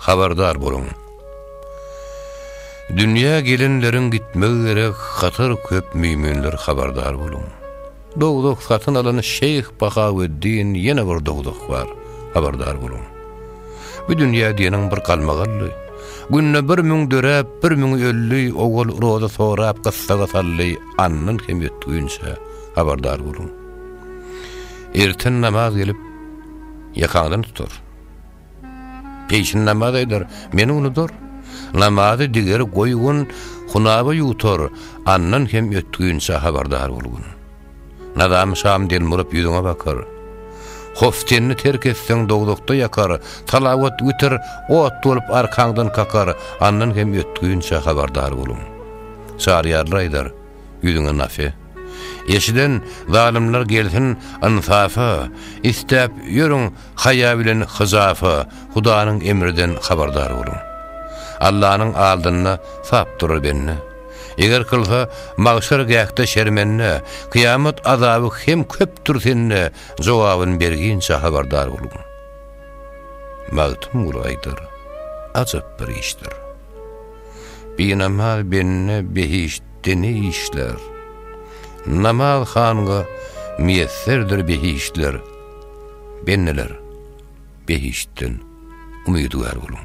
Habardar boluň! Dünýä gelenleriň gitmegi gerek hatar köp müýminler habardar boluň! Dowzah satyn alan şeýh Bahaweddin ýene bir dowzah bar habardar boluň! Bu dünýä diýeniň bir galmagaldy. Günde bir müň döräp, bir müňi öldi, owal roza sorap gyssaga saldy, andan kem ýetginçe habardar boluň! Erten namaz gelip, ýakaňdan tutar. Peşin namaz aýdar, meni unudar. Namazy digeri goýgun, hunaba ýutar, andan hem ötginçä habardar bolgun. Nazamy şam den burup ýüzüňe bakar. Hoftenni terk etseň dowzahda ýakar, salawat witir ot bolup arkaňdan kakar, andan hem ötginçä habardar bolgun. Çaryýarlar aýdar, ýüzüňe nafe. Eşiden zalymlar gelsin ynsafa, isläp ýörüň Haýa bilen hyjafa, Hudanyň emriden habardar boluň. Allanyň aldynda sap durar bende. Eger kylsa, magşar gähde şermende, kyýamat azaby hem köpdür sende, jogabyn berginçe habardar boluň. Magtymguly aýdar, Ajap bir işdir. Binamaz bende behiştde ne işler? Namaz hanga miýesserdir behiştler. Bendeler, behiştden umydygär boluň.